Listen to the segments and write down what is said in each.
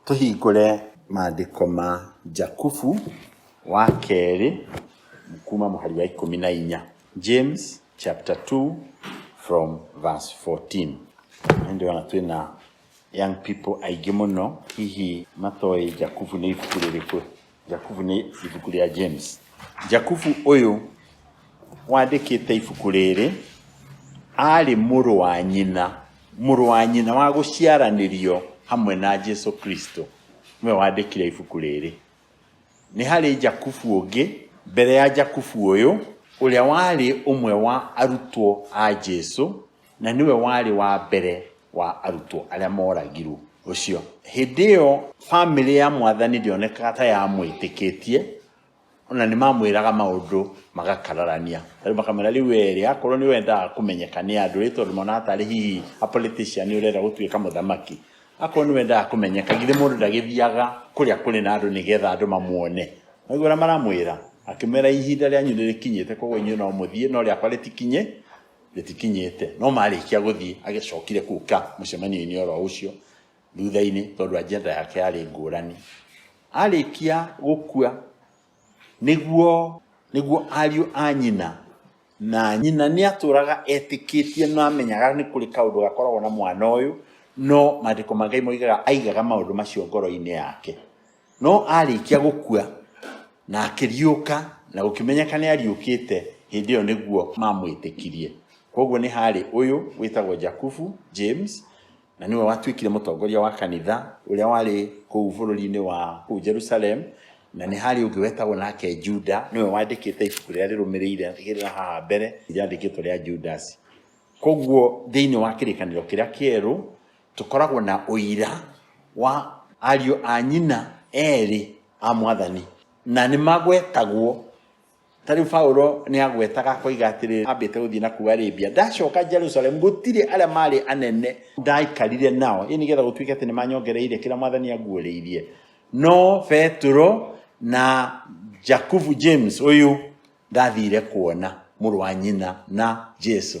Tũhingũre maandĩko ma Jakubu wa kerĩ kuma mũhari wa ikũmi na inya. James chapter 2 from verse 14. Nĩ ndĩrona twĩ na young people aingĩ mũno hihi matoĩ Jakubu nĩ ibuku rĩrĩkũ. Jakubu nĩ ibuku rĩa James. Jakubu ũyũ wandĩkĩte ibuku rĩrĩ arĩ mũrũ wa nyina, mũrũ wa nyina wa gũciaranĩrio hamwe na Jesu Kristo nĩwe wandĩkire ibuku rĩrĩ. Nĩ harĩ Jakubu ũngĩ mbere ya Jakubu ũyũ ũrĩa warĩ ũmwe wa arutwo a Jesu Na nĩwe warĩ wa mbere wa arutwo arĩa mooragirũo ũcio. Hĩndĩ ĩyo famĩlĩ ya Mwathani ndĩonekaga ta yamwĩtĩkĩtie, o na nĩ mamwĩraga maũndũ magakararania. Ta rĩu makamwĩra, rĩu wee-rĩ, akorũo nĩ wendaga kũmenyeka nĩ andũ, rĩ, tondũ monaga tarĩ hihi a politician ũrenda gũtuĩka mũthamaki, akorũo nĩ wendaga kũmenyeka, githĩ mũndũ ndagĩthiaga kũrĩa kũrĩ na andũ nĩgetha andũ mamuone? Mwaigua ũrĩa maramwĩra? Akĩmera, ihinda rĩanyu nĩ rĩkinyĩte, kwoguo inyuĩ no mũthiĩ, no rĩakwa rĩtikinyĩ, rĩtikinyĩte no marĩkia gũthiĩ agĩcokire kuka mũcemanio-inĩ oro ũcio thutha-inĩ tondũ agenda yake yarĩ ngũrani arĩkia gũkua nĩguo nĩguo ariũ a nyina na nyina nĩ atũraga etĩkĩtie na amenyaga nĩ kũrĩ kaũndũ gakoragwo na mwana ũyũ no maandĩko ma Ngai moigaga aigaga maũndũ macio ngoro-inĩ yake No aarĩkia gũkua na akĩriũka na gũkĩmenyeka nĩ ariũkĩte, hĩndĩ ĩyo nĩguo mamwĩtĩkirie. Kwoguo nĩ haarĩ ũyũ wĩtagwo Jakubu, James, na nĩwe watuĩkire mũtongoria wa kanitha ũrĩa warĩ kũu bũrũri-inĩ wa kũu Jerusalem, na nĩ harĩ ũngĩ wetagwo nake Juda, nĩwe wandĩkĩte ibuku rĩrĩa rĩrũmĩrĩire rĩrĩa haha mbere rĩandĩkĩtwo rĩa Judasi. Kwoguo thĩinĩ wa kĩrĩkanĩro kĩrĩa kĩerũ, Tũkoragwo na ũira wa ariũ a nyina erĩ a Mwathani, na nĩ magwetagwo. Ta rĩu Paulo nĩ agwetaga akoiga atĩrĩrĩ, ambĩte gũthiĩ na kũu Arabia, ndacoka Jerusalemu gũtirĩ arĩa maarĩ anene ndaikarire nao, ĩ nĩgetha gũtuĩke atĩ nĩ manyongereire kĩrĩa Mwathani anguũrĩirie. No Petero na Jakubu, James ũyũ, ndathire kuona mũrũ wa nyina na Jesu.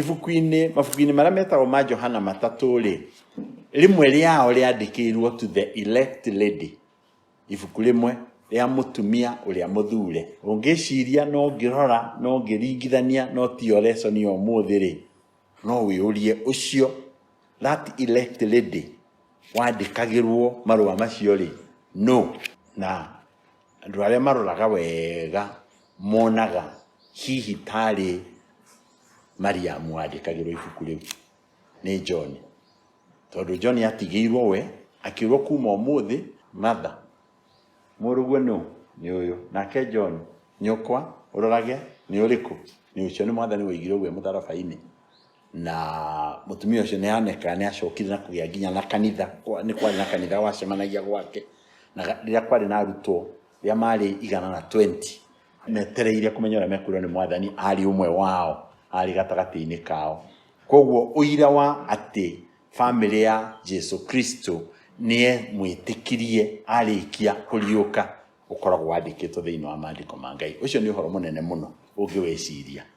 Ibuku-inĩ, mabuku-inĩ marĩa metagwo ma Johana matatũ-rĩ, rĩmwe rĩao rĩandĩkĩirwo to the elect lady, ibuku rĩmwe rĩa mũtumia ũrĩa mũthure. Ũngĩciria na ũngĩrora na ũngĩringithania no tiyo lesson ya ũmũthĩ-rĩ, no wĩyũrie ũcio, that elect lady, wandĩkagĩrwo marũa macio-rĩ, nũ? Na Andũ arĩa maroraga wega monaga hihi tarĩ Mariamu wandĩkagĩrwo ibuku rĩu nĩ John. Tondũ John atigĩirwo we, akĩrwo kuma ũmũthĩ Martha mũrũguo nũ? Nĩ ũyũ. Nake John nyũkwa ũrorage nĩ ũrĩkũ? Nĩ ũcio nĩ mwathani waigirwo ũguo e mũtharaba-inĩ. na mutumia ucio ni aneka ni acokire na kugia nginya na kanitha ni kwari na kanitha wacemanagia gwake na riria kwari na arutwo riria mari igana na 20 metereire kumenya uria mekwirwo ni mwathani ari umwe wao ari gatagati-ini kao koguo uira wa ati family ya Jesu Kristo nie mwitikirie arikia kuriuka ukoragwo wandikitwo thiini wa mandiko ma Ngai ucio ni uhoro munene muno ungiweciria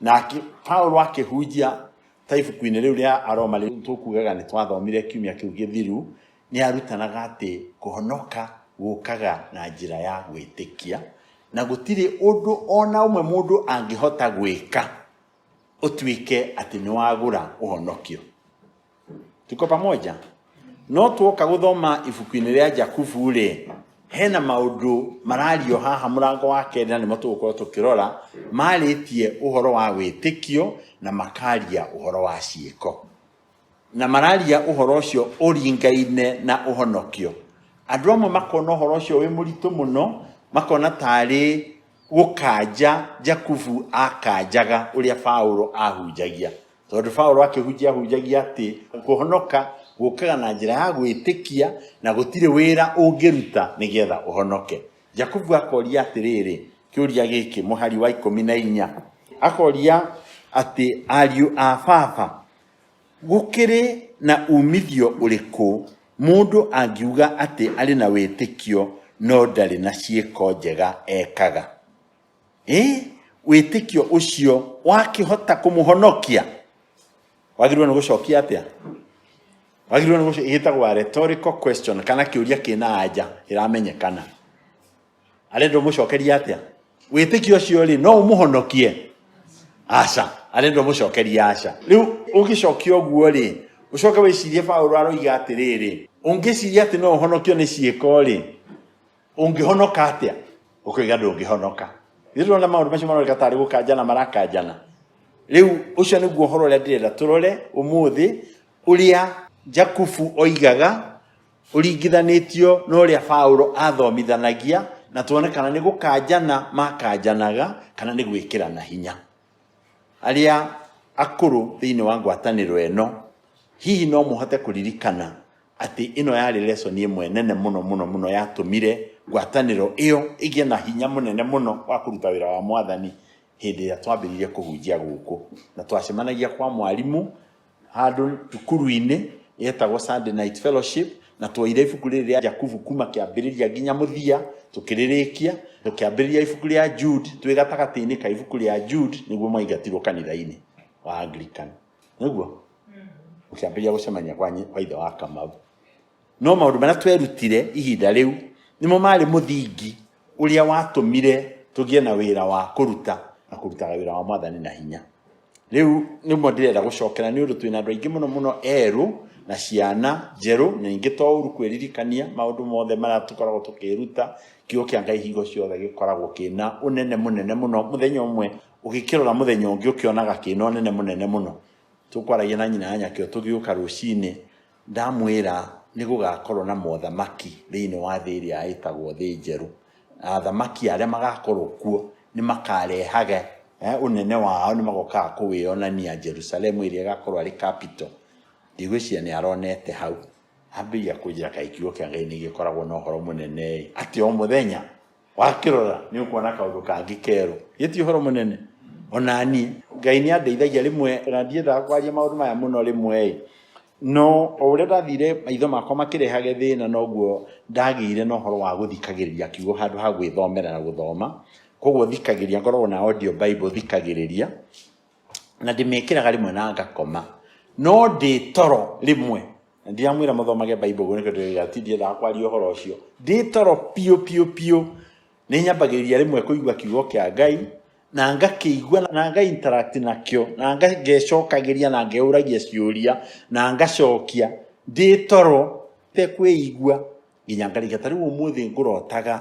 na akĩ- paulo akĩhunjia ta ibuku-inĩ rĩu rĩa aroma rĩu tũkugaga nĩ twathomire kiumia kĩu gĩthiru nĩ arutanaga atĩ kũhonoka gũkaga na njĩra ya gwĩtĩkia na gũtirĩ ũndũ ona ũmwe mũndũ angĩhota gwĩka ũtuĩke atĩ nĩ wagũra ũhonokio tuko pamoja no twoka gũthoma ibuku-inĩ rĩa jakubu rĩ hena maũndũ marario haha mũrango wa kerĩ na nĩmo tũgũkorwo tũkĩrora marĩtie ũhoro wa wĩtĩkio na makaria ũhoro wa ciĩko na mararia ũhoro ũcio ũringaine na ũhonokio andũ amwe makona ũhoro ũcio wĩ mũritũ mũno makona tarĩ gũkanja jakubu akanjaga ũrĩa paũlũ ahunjagia Tondũ Paulo akĩhunjia hunjagia atĩ kũhonoka gũkaga na njĩra ya gwĩtĩkia na gũtirĩ wĩra ũngĩruta nĩgetha ũhonoke. Jakubu akoria atĩrĩrĩ, kĩũria gĩkĩ mũhari wa ikũmi na inya akoria atĩ ariũ a baba gũkĩrĩ na umithio ũrĩkũ mũndũ angiuga atĩ arĩ na wĩtĩkio no ndarĩ na ciĩko njega ekaga? Eh, wĩtĩkio ũcio wakĩhota kũmũhonokia wagĩrĩirwo nĩ gũcokia atĩa wagĩrĩirwo nĩ gũcokia gĩtagwo rhetorical question kana kĩũria kĩna anja ĩramenyekana arenda ũmũcokerie atĩa wĩtĩkio ũcio rĩ no ũmũhonokie aca arenda ũmũcokerie aca rĩu ũgĩcokia ũguo rĩ ũcoke wĩcirie paũlũ aroiga atĩrĩrĩ ũngĩciria atĩ no ũhonokio nĩ ciĩko rĩ ũngĩhonoka atĩa ũkĩiga ndũngĩhonoka ithuĩ tũrona maũndũ macio maroneka tarĩ gũkanjana marakanjana rĩu ũcio nĩguo ũhoro ũrĩa ndĩrenda tũrore ũmũthĩ ũrĩa jakubu oigaga ũringithanĩtio na ũrĩa paũlũ athomithanagia na tuone kana nĩ gũkanjana makanjanaga kana nĩ gwĩkĩrana hinya arĩa akũrũ thĩinĩ wa ngwatanĩro ĩno hihi no mũhote kũririkana atĩ ĩno yarĩ lesson ĩmwe nene mũno mũno mũno yatũmire ngwatanĩro ĩyo ĩgĩe na hinya mũnene mũno wa kũruta wĩra wa mwathani hĩndĩ ĩrĩa twambĩrĩirie kũhunjia gũkũ na twacemanagia kwa mwarimũ handũ cukuru-inĩ yetagwo Sunday Night Fellowship na twoire ibuku rĩrĩ rĩa Jakubu kuma kĩambĩrĩria nginya mũthia tũkĩrĩrĩkia tũkĩambĩrĩria ibuku rĩa Jude twĩ gatagatĩ-inĩ ka ibuku rĩa Jude nĩguo mwaingatirwo kanitha-inĩ wa Anglican nĩguo ũkĩambĩrĩria gũcemania kwa nyi- kwa ithe wa kamau no maũndũ marĩa twerutire ihinda rĩu nĩmo marĩ mũthingi ũrĩa watũmire tũgĩe na wĩra wa kũruta na kũrutaga wĩra wa mwathani na hinya rĩu nĩmo ndĩrenda gũcokera nĩ ũndũ twĩna andũ aingĩ mũno mũno erũ na ciana njerũ na ingĩ to ũru kwĩririkania maũndũ mothe marĩa tũkoragwo tũkĩruta kiugo kĩa ngai hingo ciothe gĩkoragwo kĩna ũnene mũnene mũno mũthenya ũmwe ũgĩkĩrora mũthenya ũngĩ ũkĩonaga kĩna ũnene mũnene mũno tũkwaragia na nyina anya kĩo tũgĩũka rũcinĩ ndamwĩra nĩ gũgakorwo na mothamaki thĩinĩ wa thĩ ĩrĩa ĩtagwo thĩ njerũ athamaki arĩa magakorwo kuo nĩ makarehage eh, ũnene wao nĩ magokaga kũwĩonania jerusalemu ĩrĩa ĩgakorwo arĩ capital ndigwĩciria nĩ aronete hau ambĩrĩria kũnjĩra kaĩ kiugo kĩa ngai nĩ gĩkoragwo na ũhoro mũnene atĩ o mũthenya wakĩrora nĩ ũkuona kaũndũ kangĩ kerũ gĩti ũhoro mũnene onani ngai nĩ andeithagia rĩmwe na ndiendaga kwaria maũndũ maya mũno rĩmwe no o ũrĩa ndathire maitho makwa makĩrehage thĩna noguo ndagĩire na ũhoro wa gũthikagĩrĩria kiugo handũ ha gwĩthomera na gũthoma koguo thikagĩrĩria ngoragwo na audio bible thikagĩrĩria na ndĩmĩkĩraga rĩmwe na ngakoma no ndĩ toro rĩmwe na ndiramwĩra mũthomage bible guo nĩkĩo ndĩrĩga ti ndiendaga kwaria ũhoro ũcio ndĩ toro piũ piũ piũ nĩ nyambagĩrĩria rĩmwe kũigua kiugo kĩa ngai na ngakĩigua na nga interact nakĩo na nga- ngecokagĩria na ngeũragia ciũria na ngacokia ndĩ toro tekwĩigua nginya ngarĩkia ta rĩu ũmũthĩ ngũrotaga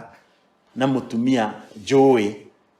na mũtumia njũĩ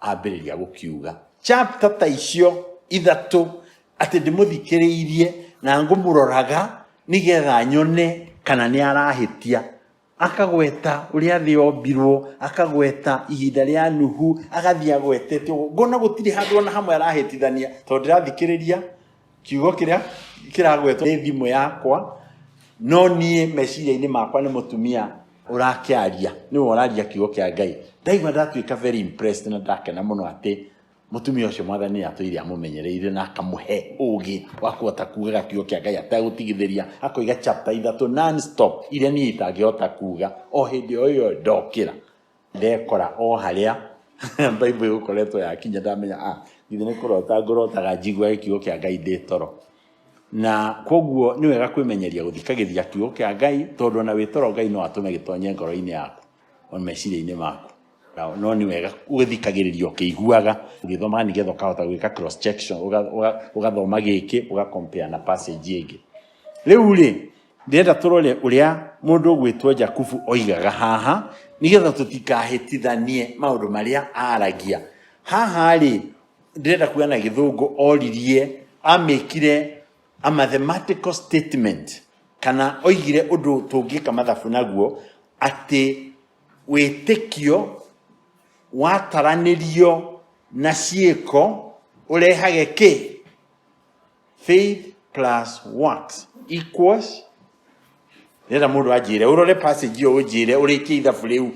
ambĩrĩria gũkiuga chapter ta icio ithatũ atĩ ndĩmũthikĩrĩirie na ngũmũroraga nĩgetha nyone kana nĩ arahĩtia akagweta ũrĩa thĩ yombirwo akagweta ihinda rĩa nuhu agathiĩ agwetete ũguo ngona gũtirĩ handũ ona hamwe arahĩtithania tondũ ndĩrathikĩrĩria kiugo kĩrĩa kĩragwetwo nĩ thimũ yakwa no niĩ meciria-inĩ makwa nĩ mũtumia ũrakĩaria nĩwe ũraria kiugo kĩa ngai ndaigua ndatuĩka very impressed na ndakena mũno atĩ mũtumia ũcio mwathani nĩ atũire amũmenyereire na akamũhe ũgĩ wa kũhota kugaga kiugo kĩa ngai ategũtigithĩria akoiga chapter ithatũ non stop iria niĩ itangĩhota kuga o hĩndĩ o ĩyo ndokĩra ndekora o harĩa Bible ĩgũkoretwo yakinya ndamenya a ah, githĩ nĩ kũrota ngũrotaga njiguage kiugo kĩa Ngai ndĩ toro na koguo nĩ wega kwĩmenyeria gũthikagĩria kiugo kĩa Ngai tondũ ona wĩ toro Ngai no atũme gĩtonye ngoro-inĩ yaku o meciria-inĩ maku no nĩ wega ũgĩthikagĩrĩria ũkĩiguaga ũgĩthomaga nĩgetha ũkahota gwĩka cross check ũgathoma gĩkĩ ũgakompea na passage ĩngĩ rĩu rĩ ndĩrenda tũrore ũrĩa mũndũ ũgwĩtwo jakubu oigaga haha nĩgetha tũtikahĩtithanie maũndũ marĩa aragia haha rĩ ndĩrenda kuga na gĩthũngũ oririe amĩkire a mathematical statement kana oigire ũndũ tũngĩka mathabu naguo atĩ wĩtĩkio wataranĩrio na ciĩko ũrehage kĩ faith plus works equals ndĩrenda mũndũ anjĩre ũrore passage ĩyo ũnjĩre ũrĩkie ithabu rĩu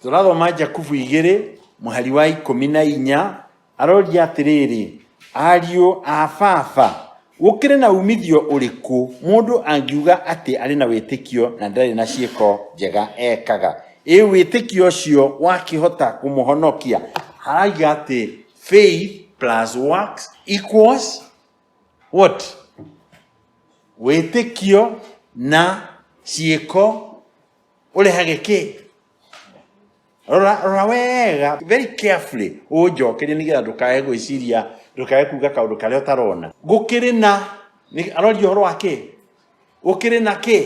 tũrathoma jakubu igĩrĩ mũhari wa ikũmi na inya aroria atĩrĩrĩ ariũ a baba gũkĩrĩ na umithio ũrĩkũ mũndũ angiuga atĩ arĩ na wĩtĩkio na ndarĩ na ciĩko njega ekaga ĩ wĩtĩkio ũcio wakĩhota kũmũhonokia haraiga atĩ Faith plus works equals what? Wĩtĩkio na ciĩko ũrehage kĩ? Rora, rora wega very carefully ũnjokerie nĩgetha ndũkae gwĩciria ndũkae kuga kaũndũ karĩa ũtarona. Gũkĩrĩ na nĩ- aroria ũhoro wa kĩ? Gũkĩrĩ na kĩ?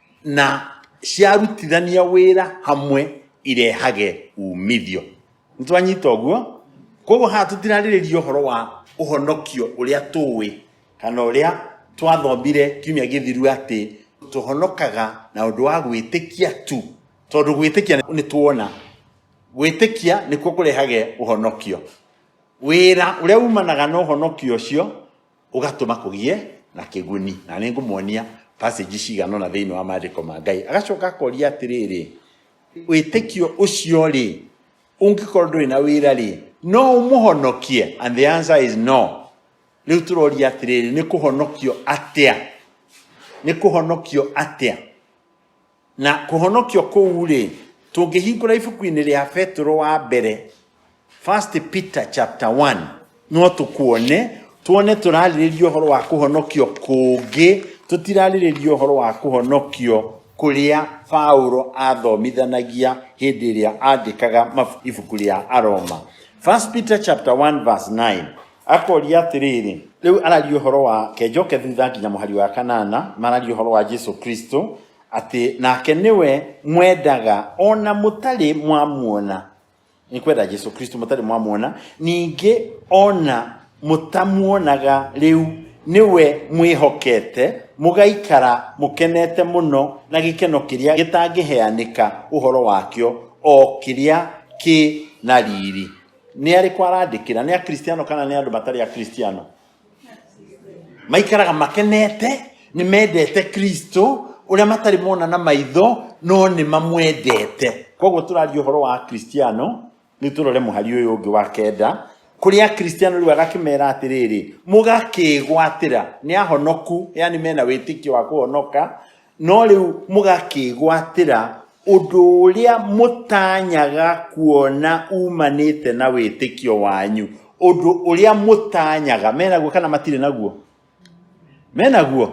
na ciarutithania wĩra hamwe irehage umithio nĩ twanyita ũguo koguo haha tũtirarĩrĩria ũhoro wa ũhonokio ũrĩa tũĩ kana ũrĩa twathomire kiumia gĩthiru atĩ tũhonokaga na ũndũ wa gwĩtĩkia tu tondũ gwĩtĩkia nĩ tuona gwĩtĩkia nĩkuo kũrehage ũhonokio wĩra ũrĩa umanaga na ũhonokio ũcio ũgatũma kũgĩe na kĩguni na nĩ ngũmuonia passage cigana ũna thĩinĩ wa maandĩko ma ngai agacoka akoria atĩrĩrĩ wĩtĩkio ũcio rĩ ũngĩkorwo ndũrĩ na wĩra rĩ no ũmũhonokie and the answer is no rĩu tũroria atĩrĩrĩ nĩ kũhonokio atĩa nĩ kũhonokio atĩa Na kũhonokio kũu-rĩ, tũngĩhingũra ibuku-inĩ rĩa Petero wa mbere, First Peter chapter 1, no tũkuone, tuone tũrarĩrĩria ũhoro wa kũhonokio kũngĩ, tũtirarĩrĩria ũhoro wa kũhonokio kũrĩa Paulo athomithanagia hĩndĩ ĩrĩa andĩkaga mab- ibuku rĩa Aroma. First Peter chapter 1 verse 9, Akoria atĩrĩrĩ, rĩu araria ũhoro wa ke njoke thutha nginya mũhari wa kanana mararia ũhoro wa jesu kristo atĩ nake nĩwe mwendaga ona mũtarĩ mwamuona nĩ kwenda jesu kristo mũtarĩ mwamuona ningĩ ona mũtamuonaga rĩu nĩwe mwĩhokete mũgaikara mũkenete mũno na gĩkeno kĩrĩa gĩtangĩheanĩka ũhoro wakĩo o kĩrĩa kĩ na riri nĩ arĩkũ arandĩkĩra nĩ akristiano kana nĩ andũ matarĩ akristiano maikaraga makenete nĩ mendete kristo ũrĩa matarĩ mona na maitho no nĩ mamwendete koguo tũraria ũhoro wa akristiano rĩu tũrore mũhari ũyũ ũngĩ wa kenda kũrĩ akristiano rĩu agakĩmera atĩrĩrĩ mũgakĩgwatĩra nĩ ahonoku yani mena wĩtĩkio wa kũhonoka No rĩu mũgakĩĩgwatĩra ũndũ ũrĩa mũtanyaga kuona umanĩte na wĩtĩkio wanyu ũndũ ũrĩa mũtanyaga menaguo kana matirĩ naguo menaguo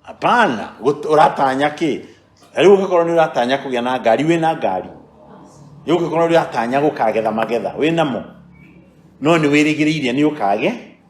hapana gũt- ũratanya kĩ Na rĩu ũngĩkorwo nĩ ũratanya kũgĩa na ngari wĩ na ngari rĩu ũngĩkorwo nĩ ũratanya gũkagetha magetha wĩ namo no nĩ wĩrĩgĩrĩire nĩ ũkage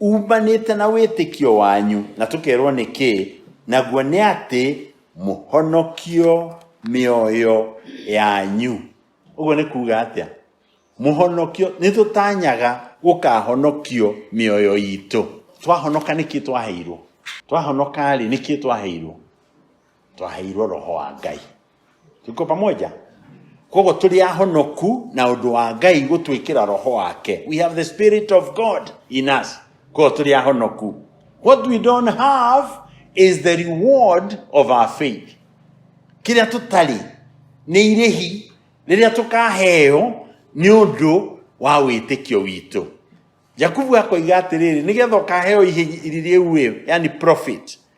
Uumanĩte na wĩtĩkio wanyu, na tũkerwo nĩkĩ, naguo nĩ atĩ mũhonokio mĩoyo yanyu. Ũguo nĩ kuuga atĩa? Mũhonokio, nĩ tũtanyaga gũkahonokio mĩoyo itũ. Twahonoka nĩkĩ twaheirwo? Twahonoka-rĩ, nĩkĩ twaheirwo? Twaheirwo roho wa Ngai. tuko pamoja koguo tũrĩ ahonoku na ũndũ wa ngai gũtwĩkĩra roho wake we have the spirit of god in us koguo tũrĩ ahonoku what we don't have is the reward of our faith kĩrĩa tũtarĩ nĩ irĩhi rĩrĩa tũkaheo nĩ ũndũ wa wĩtĩkio witũ jakubu akoiga atĩrĩrĩ nĩgetha ũkaheo ihi- irĩ rĩu ĩ yani profit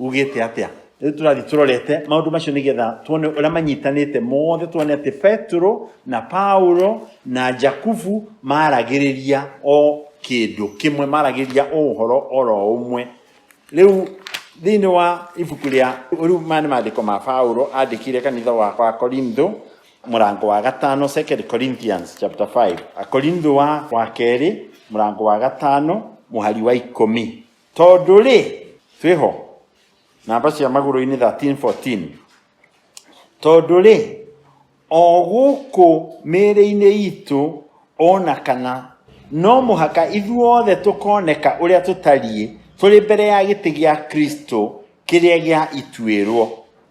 ugĩte atĩa rĩu tũrathiĩ tũrorete maũndũ macio nĩgetha tuone ũrĩa manyitanĩte mothe tuone atĩ petero na paulo na jakubu maragĩrĩria o kĩndũ kĩmwe maragĩrĩria o ũhoro oro ũmwe rĩu thĩinĩ wa ibuku rĩa rĩu maya nĩ maandĩko ma paulo andĩkire kanitha wa wa korintho mũrango wa gatano second corinthians chapter 5 akorintho wa wa kerĩ mũrango wa gatano mũhari wa ikũmi Tondũ-rĩ, twĩ ho. Namba cia magũrũ-inĩ 13, 14. Tondũ-rĩ, o gũkũ mĩĩrĩ-inĩ itũ o na kana no mũhaka ithuothe tũkoneka ũrĩa tũtariĩ tũrĩ mbere ya gĩtĩ gĩa Kristo kĩrĩa gĩa ituĩrwo.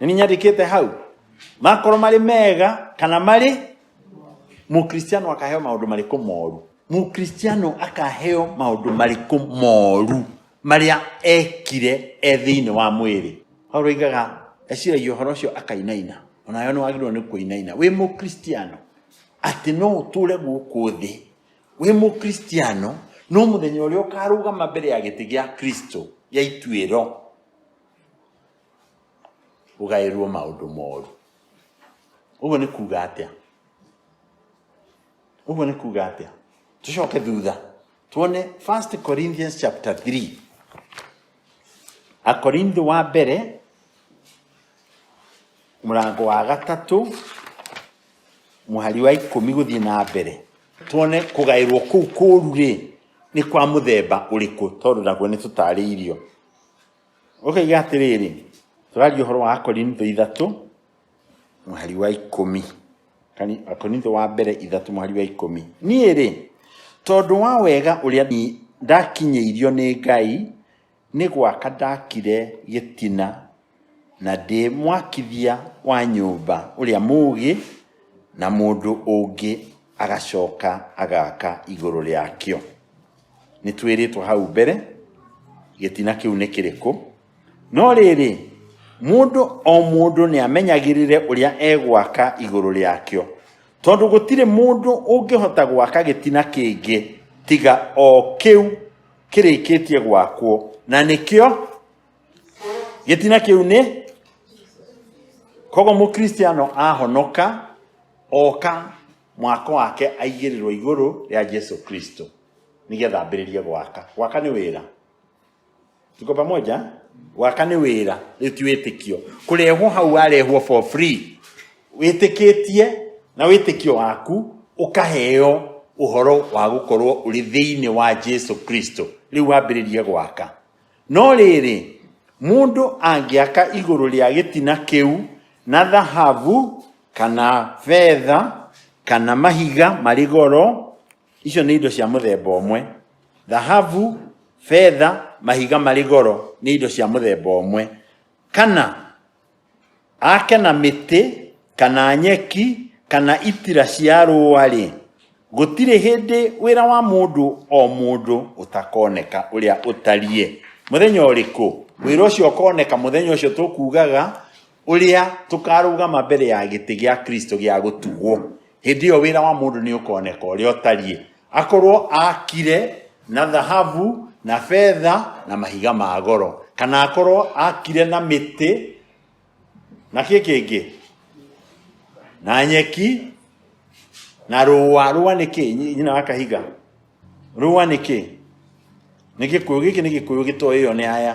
nĩnyandĩkĩte hau makorwo marĩ mega kana marĩ mũkristiano akaheo maũndũ marĩkũ moru mũkristiano akaheo maũndũ marĩkũ moru marĩa ekire e thĩinĩ wa mwĩrĩ paulo aigaga eciragia ũhoro ũcio akainaina onayo nĩ wagĩrĩirwo nĩ kũinaina wĩ mũkristiano atĩ no ũtũre gũkũ thĩ wĩ mũkristiano no mũthenya ũrĩa ũkarũgama mbere ya gĩtĩ gĩa kristo gĩa ituĩro ũgaĩrwo maũndũ moru ũguo nĩ kuga atĩa ũguo nĩ kuga atĩa tũcoke thutha tuone 1 corinthians chapter 3 akorintho wa mbere mũrango wa gatatũ mũhari wa ikũmi gũthiĩ na mbere tuone kũgaĩrwo kũu kũru rĩ nĩ kwa mũthemba ũrĩkũ tondũ naguo nĩ tũtarĩirio Ũkaiga atĩrĩrĩ, tũraria ũhoro wa Akorintho ithatũ, mũhari wa ikũmi. Kani- Akorintho wa mbere ithatũ mũhari wa ikũmi. Niĩ-rĩ, tondũ wa wega ũrĩa ni- ndakinyĩirio nĩ Ngai, nĩ gwaka ndakire gĩtina na ndĩ mwakithia wa nyũmba ũrĩa mũũgĩ na mũndũ ũngĩ agacoka agaka igũrũ rĩakĩo. nĩ twĩrĩtwo hau mbere gĩtina kĩu nĩ kĩrĩkũ no rĩrĩ mũndũ o mũndũ nĩ amenyagĩrĩre ũrĩa egwaka igũrũ rĩakĩo tondũ gũtirĩ mũndũ ũngĩhota gwaka gĩtina kĩngĩ tiga o kĩu kĩrĩkĩtie gwakwo na nĩkĩo gĩtina kĩu nĩ koguo mũkristiano ahonoka oka mwako wake aigĩrĩrwo igũrũ rĩa Jesu Kristo nĩgetha ambĩrĩrie gwaka gwaka nĩ wĩra tuko pamoja gwaka nĩ wĩra rĩu ti wĩtĩkio kũrehwo hau warehwo for free wĩtĩkĩtie na wĩtĩkio waku ũkaheo ũhoro wa gũkorwo ũrĩ thĩinĩ wa Jesu Kristo rĩu wambĩrĩrie gwaka No rĩrĩ, mũndũ angĩaka igũrũ rĩa gĩtina kĩu na thahabu kana betha kana mahiga marĩ goro, icio nĩ indo cia mũthemba ũmwe. Thahabu, betha, mahiga marĩ goro nĩ indo cia mũthemba ũmwe. Kana... Ake na mĩtĩ, kana nyeki, kana itira cia rũũa-rĩ, gũtirĩ hĩndĩ wĩra wa mũndũ o mũndũ ũtakoneka ũrĩa ũtariĩ. Mũthenya ũrĩkũ? Wĩra ũcio ũkoneka mũthenya ũcio tũkugaga ũrĩa tũkarũgama mbere ya gĩtĩ gĩa Kristo gĩa gũtugwo. hĩndĩ ĩyo wĩra wa mũndũ nĩ ũkoneka ũrĩa ũtariĩ akorwo akire na thahabu na betha na mahiga ma goro kana akorwo akire na mĩtĩ na kĩ kĩngĩ na nyeki na rũa rũa nĩ kĩ Nyi- nyina wa kahiga rũa nĩ kĩ nĩ gĩkũyũ gĩkĩ nĩ gĩkũyũ gĩtoĩ ĩyo nĩ aya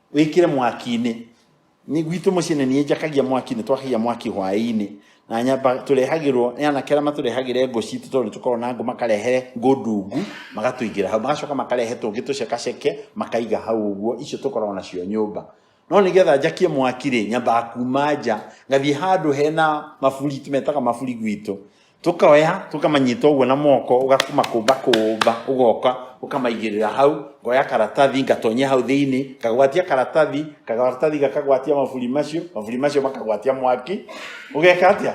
wĩkĩre mwaki-inĩ Nĩ- gwitũ mũciĩ nĩ niĩ njakagia mwaki nĩ twakagia mwaki hwaĩ-inĩ na nyamba tũrehagĩrwo nĩ anake arĩa matũrehagĩre ngũ citũ tondũ nĩ tũkoragwo na ngũ makarehe ngũ ndungu magatũigĩra hau magacoka makarehe tũngĩ tũcekaceke makaiga hau ũguo icio tũkoragwo nacio nyũmba no nĩgetha njakie mwaki rĩ nyambaga kuma nja ngathiĩ handũ hena maburi tũmetaga maburi gwitũ tũkoya tũkamanyita ũguo na moko ũgamakũmba kũmba ũgoka ũkamaigĩrĩra hau ngoya karatathi ngatonyia hau thĩinĩ ngagwatia karatathi karatathi gakagwatia maburi macio maburi macio makagwatia mwaki ũgeka atĩa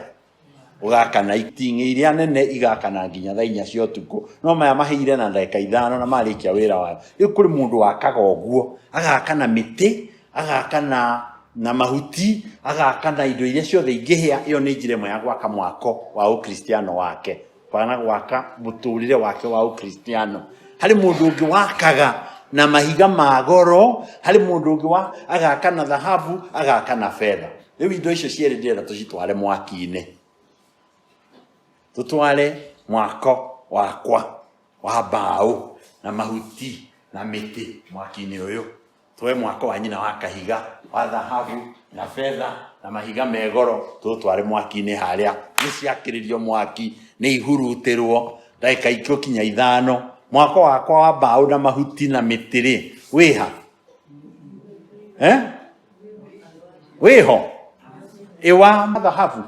ũgakana iting'ĩ iria nene igakana nginya thaa inya cia ũtukũ no maya mahĩire na ndagĩka ithano na marĩkia wĩra wayo rĩu kũrĩ mũndũ wakaga ũguo agakana mĩtĩ agaka na na mahuti agaka na indo iria ciothe ingĩhĩa ĩyo nĩ njĩra ĩmwe ya gwaka mwako wa ũkristiano wake kana gwaka mũtũrĩre wake wa ũkristiano harĩ mũndũ ũngĩ wakaga na mahiga ma goro harĩ mũndũ ũngĩ wa agaka na thahabu agaka na betha rĩu indo icio cierĩ ndĩrenda tũcitware mwaki-inĩ tũtware mwako wakwa wa mbaũ na mahuti na mĩtĩ mwaki-inĩ ũyũ twe mwako wa nyina wa kahiga wa thahabu na betha na mahiga megoro tũtware mwaki-inĩ harĩa nĩ ciakĩrĩrio mwaki nĩ ihurutĩrwo ndagĩka ikũ kinya ithano mwako wakwa wa mbaũ na mahuti na mĩtĩ-rĩ wĩha eh? wĩho ĩwa mathahabu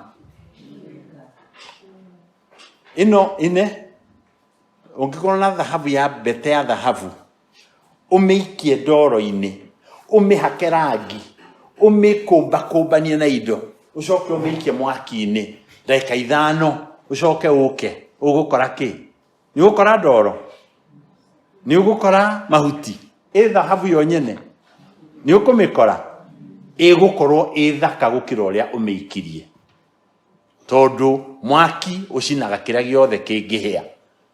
ĩno ĩne ũngĩkorwo na thahabu ya mbete ya thahabu ũmĩikie ndoro-inĩ ũmĩhake rangi ũmĩkũmbakũmbanie na indo ũcoke ũmĩikie mwaki-inĩ ndagĩka ithano ũcoke ũke ũgũkora kĩ nĩ ũgũkora ndoro nĩ ũgũkora mahuti ĩ thahabu yo nyene nĩ ũkũmĩkora ĩgũkorwo ĩ thaka gũkĩra ũrĩa ũmĩikirie tondũ mwaki ũcinaga kĩrĩa gĩothe kĩngĩhĩa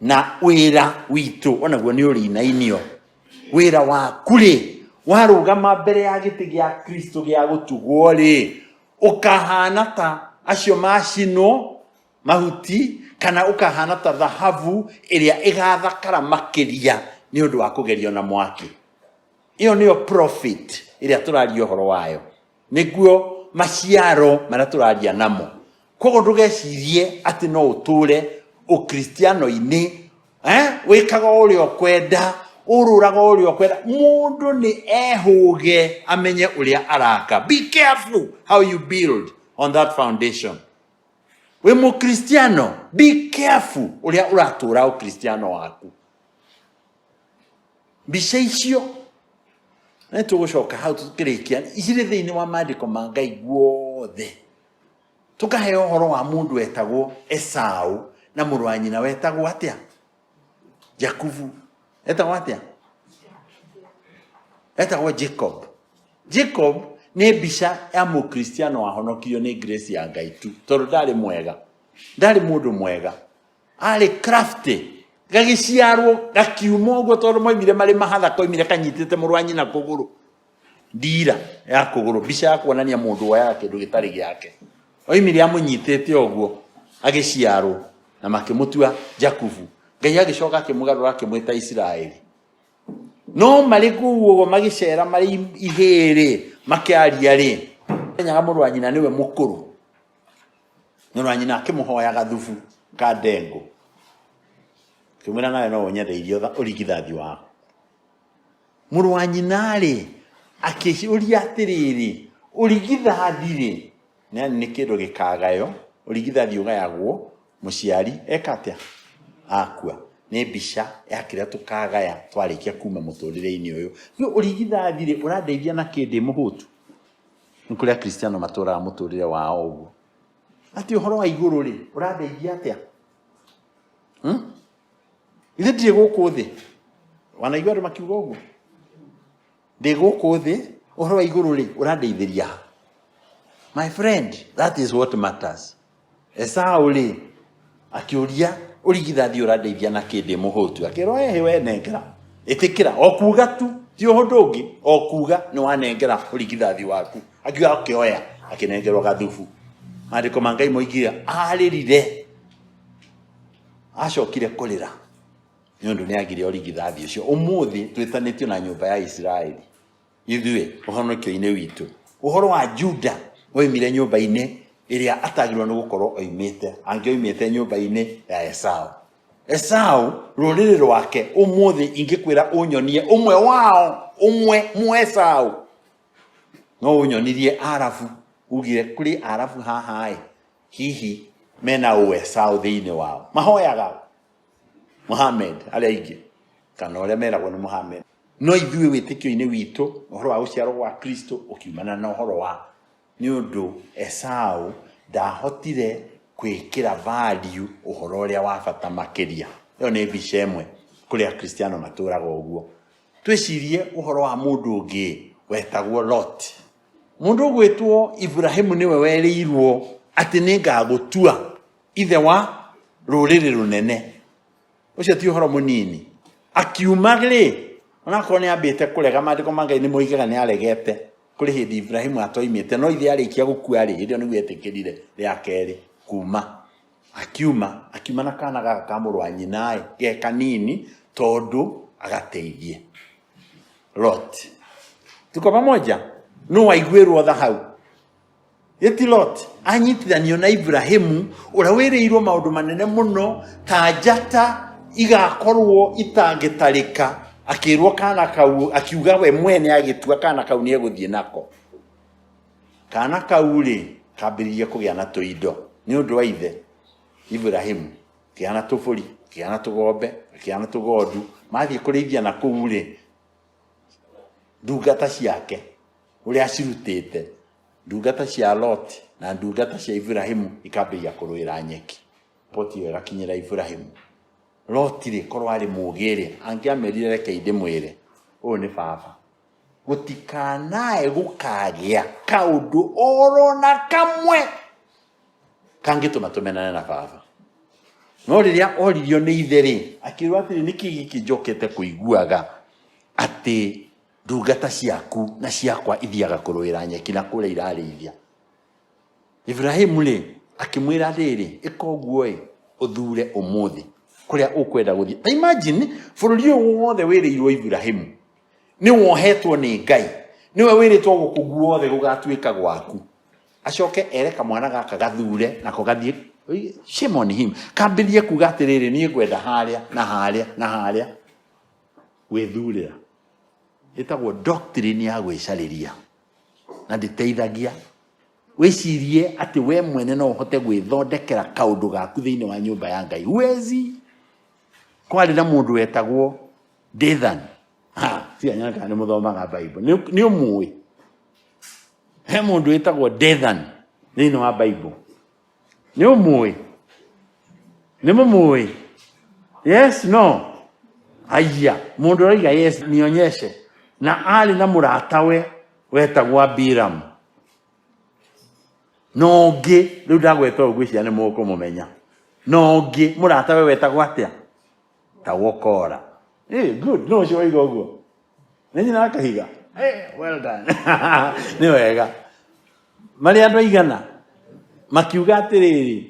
na wĩra witũ onaguo nĩ ũrĩinainio wĩra waku-rĩ warũgama mbere ya gĩtĩ gĩa kristo gĩa gũtugwo-rĩ ũkahana ta acio macinwo mahuti kana ũkahana ta thahabu ĩrĩa ĩgathakara makĩria nĩ ũndũ wa kũgerio na mwaki ĩyo nĩyo profit ĩrĩa tũraria ũhoro wayo nĩguo maciaro marĩa tũraria namo koguo ndũgecirie atĩ no ũtũre ũkristiano-inĩ eh, wĩkaga o ũrĩa ũkwenda ũrũraga o ũrĩa ũkwenda mũndũ nĩ ehũge amenye ũrĩa araka be careful how you build on that foundation wĩ mũkristiano be careful ũrĩa ũratũra ũkristiano waku mbica icio nĩ tũgũcoka hau tũkĩrĩkia irĩ thĩinĩ wa maandĩko ma ngai guothe tũkahe ũhoro wa mũndũ wetagwo esaũ na mũrũ wa nyina wetagwo atĩa jakubu etagwo atĩa etagwo jacob jacob nĩ mbica ya mũkristiano wahonokirio nĩ grace ya ngai tu tondũ ndarĩ mwega ndarĩ mũndũ mwega arĩ crafty gagĩciarwo gakiuma ũguo tondũ moimire marĩ mahatha koimire kanyitĩte mũrũ wa nyina kũgũrũ ndira ya kũgũrũ mbica ya kuonania mũndũ woyaga kĩndũ gĩtarĩ gĩake oimire amũnyitĩte ũguo agĩciarwo na makĩmũtua jakubu ngai agĩcoka akĩmũgarũra akĩmwĩta isiraeli no marĩ kũu ũguo magĩcera marĩ ihĩĩ-rĩ makĩaria-rĩ menyaga mũrũ wa nyina nĩwe mũkũrũ nyũrũ wa nyina akĩmũhoya gathubu ka ndengũ akĩmwĩra nawe no ũnyendeirie ũtha- ũrigithathi waku mũrũ wa nyina rĩ akĩũria atĩrĩrĩ ũrigithathi rĩ nĩ nĩ kĩndũ gĩkagayo ũrigithathi ũgayagwo mũciari eka atĩa akua nĩ mbica ya kĩrĩa tũkagaya twarĩkia kuma mũtũrĩre-inĩ ũyũ rĩu ũrigithathi rĩ ũrandeithia na kĩndĩ mũhũtu nĩ kũrĩ akristiano matũraga mũtũrĩre wao ũguo ati ũhoro wa igũrũ rĩ ũrandeithia atĩa hmm? ithe ndirĩ gũkũ thĩ wanaigua andũ makiuga ũguo ndĩ gũkũ thĩ ũhoro wa igũrũ rĩ ũrandeithĩria my friend that is what matters Esaũ-rĩ, akĩũria, Ũrigithathi ũrandeithia na kĩ ndĩ mũhũtu? Akĩrwo, Ehe, we nengera. Ĩtĩkĩra, o kuuga tu, ti ũhũndũ ũngĩ, o kuuga nĩ wanengera ũrigithathi waku. Akiuga akĩoya, akĩnengerwo gathubu. Maandĩko ma Ngai moigire, arĩrire, acokire kũrĩra nĩ ũndũ nĩ agire ũrigithathi ũcio. Ũmũthĩ twĩtanĩtio na nyũmba ya Isiraeli. ithuĩ ũhonokio-inĩ witũ ũhoro wa juda oimire nyũmba-inĩ ĩrĩa atagĩrĩirwo nĩ gũkorwo oimĩte angĩ oimĩte nyũmba-inĩ ya esaũ esaũ rũrĩrĩ rwake ũmũthĩ ingĩkwĩra ũnyonie ũmwe wao ũmwe mũesaũ no ũnyonirie arabu ugire kũrĩ arabu haha-ĩ hihi mena ũesaũ thĩinĩ wao mahoyaga Mohamed arĩa aingĩ kana ũrĩa meragwo nĩ Mohamed no ithuĩ wĩtĩkio-inĩ witũ ũhoro wa gũciarwo gwa Kristo ũkiumana na ũhoro wa nĩ ũndũ Esaũ ndahotire kwĩkĩra value ũhoro ũrĩa wa bata makĩria ĩyo nĩ mbica ĩmwe kũrĩ akristiano matũraga ũguo twĩcirie ũhoro wa mũndũ ũngĩ wetagwo Lot mũndũ ũgwĩtwo Ibrahim nĩwe werĩirwo atĩ nĩ ngagũtua ithe wa rũrĩrĩ rũnene ũcio ti ũhoro mũnini akiuma rĩ onakorwo nĩ ambĩte kũrega maandĩko ma ngai nĩ moigaga nĩ aregete kũrĩ hĩndĩ ibrahimu atoimĩte no ithe arĩkia gũkua rĩ hĩndĩ ĩyo nĩguo etĩkĩrire rĩa kerĩ kuma akiuma akiuma na kana gaka ka mũrũ wa nyinaĩ ge kanini tondũ agateithie lot tuko pamoja nũ waiguĩrwo tha hau gĩti lot anyitithanio na iburahimu ũrĩa wĩrĩirwo maũndũ manene mũno ta njata igakorwo itangĩtarĩka akĩrwo kana kau akiuga we mwene agĩtua kana kau nĩ egũthiĩ nako kana kau rĩ kambĩrĩria kũgĩa na tũindo nĩ ũndũ wa ithe iburahimu kĩgĩa na tũbũri kĩgĩa na tũgombe kĩgĩa na tũgondu mathiĩ kũrĩithia na kũu rĩ ndungata ciake ũrĩa acirutĩte ndungata cia loti na ndungata cia iburahimu ikambĩrĩria kũrũĩra nyeki poti ĩyo ĩgakinyĩra iburahimu loti rĩ korwo arĩ mũgĩ rĩ angĩamerire reke ndĩmwĩre ũyũ nĩ baba gũtikanae gũkagĩa kaũndũ oro na kamwe kangĩtũma tũmenane na baba no rĩrĩa oririo nĩ ithe rĩ akĩrwo atĩrĩ nĩ kĩ gĩkĩ njokete kũiguaga atĩ ndungata ciaku na ciakwa ithiaga kũrũĩra nyeki na kũrĩa irarĩithia iburahimu rĩ akĩmwĩra atĩrĩ ĩka ũguo ĩ ũthure ũmũthĩ kũrĩa ũkwenda gũthiĩ ta imagine bũrũri ũyũ wothe wĩrĩirwo iburahimu nĩ wohetwo nĩ ngai nĩwe wĩrĩtwo gũkũ guothe gũgatuĩka gwaku acoke ere kamwana gaka gathure nako gathiĩ shame on him kambĩrie kuga atĩrĩrĩ niĩ ngwenda harĩa na harĩa na harĩa gwĩthurĩra ĩtagwo doctrine ya gwĩcarĩria na ndĩteithagia wĩcirie atĩ we mwene no ũhote gwĩthondekera kaũndũ gaku thĩinĩ wa nyũmba ya ngai huwezi kwarĩ na mũndũ wetagwo Dathan. Ha, si anyana kana nĩ mũthomaga Bible. Nĩ nĩ ũmũĩ. He mũndũ wĩtagwo Dathan thĩinĩ wa Bible. Nĩ ũmũĩ. Nĩ mũmũĩ. Yes, no. Aya, mũndũ ũraiga yes nionyeshe. Na arĩ na mũratawe wetagwo Abiram. Na ũngĩ, rĩu ndagweta ũguo icia nĩ mũkũmũmenya. Na ũngĩ, mũratawe wetagwo atĩa? ta gũkora Eh, good no ũcio waiga ũguo nĩ nyina wa kahiga Eh, well done nĩ wega marĩ andũ aigana makiuga atĩrĩrĩ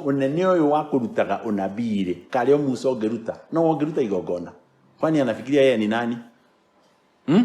ũnene ũyũ wa kũrutaga ũnabii rĩ karĩ o musa ũngĩruta no ũngĩruta igongona kwani anafikiria yeye ni nani hmm?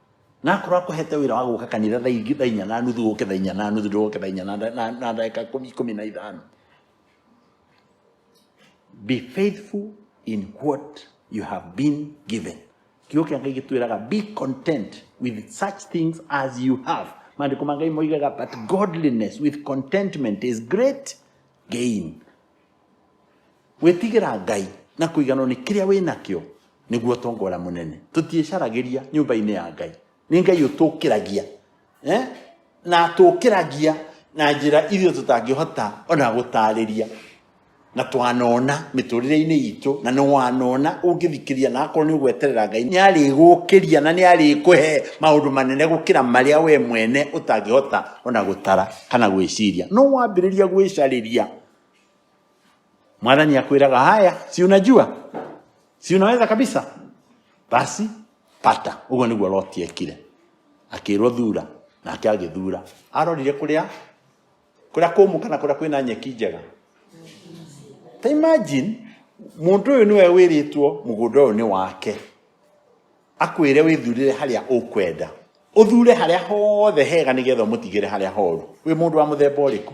na akorwo akũhete wira wa guka kanitha thaa ingĩ thaa inya na nuthu ũke thaa inya na nuthu ndũke thaa inya na nda- na- na ndagĩka ikũmi ikũmi na ithano be faithful in what you have been given kiugo kĩa ngai gĩtwĩraga be content with such things as you have maandĩko ma ngai moigaga but godliness with contentment is great gain Gwĩtigĩra Ngai na kũiganwo nĩ kĩrĩa wĩ nakĩo nĩguo tongora mũnene. Tũtiĩcaragĩria nyũmba-inĩ ya Ngai. Nĩ Ngai ũtũkĩragia eh? na atũkĩragia na njĩra iria tũtangĩhota ona gũtarĩria na twanona mĩtũrĩre-inĩ itũ na nĩ wanona ũngĩthikĩria na akorwo nĩ ũgweterera Ngai nĩ arĩgũkĩria na nĩ arĩkũhe maũndũ manene gũkĩra marĩa we mwene ũtangĩhota ona gũtara kana gwĩciria no wambĩrĩria gwĩcarĩria mwathani akwiraga haya si unajua si unaweza kabisa basi pata uguo niguo loti ekire akirwo thura nake agithura arorire kuria kuria kumu kana kuria kwina nyeki njega ta imagine mundu uyu niwe wiritwo mugunda uyu ni wake akwire withurire haria ukwenda uthure haria hothe hega nigetha umutigire haria horu wi mundu wa muthemba uriku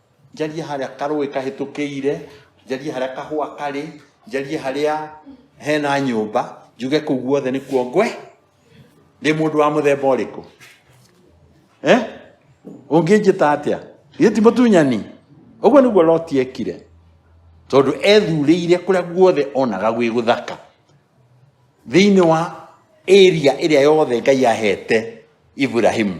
njarie harĩa karũĩ kahĩtũkĩire njarie harĩa kahũa karĩ njarie harĩa hena nyũmba njuge kũu guothe nĩkuo ngwe ndĩ mũndũ wa mũthemba ũrĩkũ eh? ũngĩnjĩta atĩa githĩ ti mũtunyani ũguo nĩguo loti ekire tondũ ethurĩire kũrĩa guothe onaga gwĩ gũthaka thĩinĩ wa area ĩrĩa yothe ngai ahete iburahimu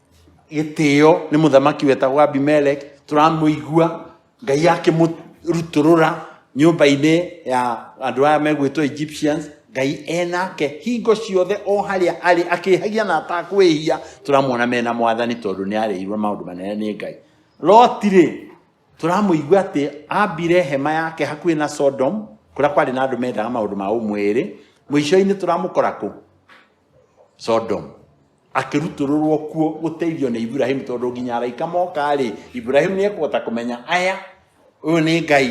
gĩtĩo nĩ mũthamaki wetagwo abimeleki tũramũigua ngai akĩmũrutũrũra nyũmba-inĩ ya andũ aya megwĩtwo egyptians ngai enake hingo ciothe o harĩa arĩ akĩhagia na atakwĩhia tũramuona mena mwathani tondũ nĩ arĩirwo maũndũ manene nĩ ngai lotirĩ tũramũigua atĩ ambire hema yake hakuhĩ na sodom kũrĩa kwarĩ na andũ mendaga maũndũ ma ũmwĩrĩ mũico-inĩ tũramũkora kũ sodomu akĩrutũrũrwo kuo gũteithio nĩ iburahimu tondũ nginya araika moka-rĩ iburahimu nĩ ekũhota kũmenya aya ũyũ nĩ ngai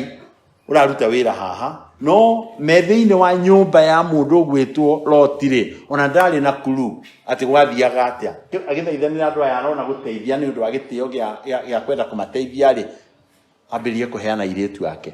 ũraruta wĩra haha no me thĩinĩ wa nyũmba ya mũndũ ũgwĩtwo loti-rĩ ona ndarĩ na kuru atĩ gwathiaga atĩa agĩthaithanĩra andũ aya arona gũteithia nĩ ũndũ wa gĩtĩo gĩa- gĩa gĩa kwenda kũmateithia-rĩ ambĩrĩrie kũheana airĩtu ake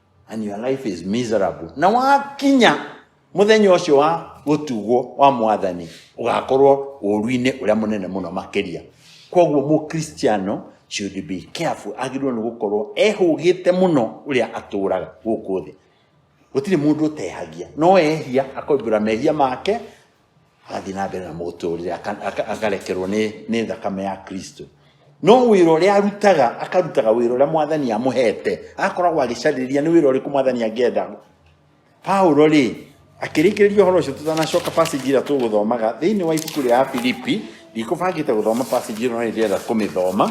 and your life is miserable na wakinya muthenya ũcio wa gũtugwo wa mwathani ũgakorwo ũru-inĩ ũrĩa mũnene mũno makĩria koguo mũkristiano should be careful agĩrĩirwo nĩ gũkorwo ehũgĩte mũno ũrĩa atũraga gũkũ thĩ gũtirĩ mũndũ ũtehagia no ehia akoimbũra mehia make agathiĩ na mbere na mũtũrĩre aka- aka- akarekerwo nĩ nĩ thakame ya kristo no wĩra ũrĩa arutaga akarutaga wĩra ũrĩa mwathani amũhete akoragwo agĩcarĩria nĩ wĩra ũrĩkũ mwathani angĩenda paulo rĩ akĩrĩkĩrĩria ũhoro ũcio tũtanacoka pasage ĩrĩa tũgũthomaga thĩinĩ wa ibuku rĩa filipi ndikũbangĩte gũthoma pasage ĩno no nĩndĩrenda kũmĩthoma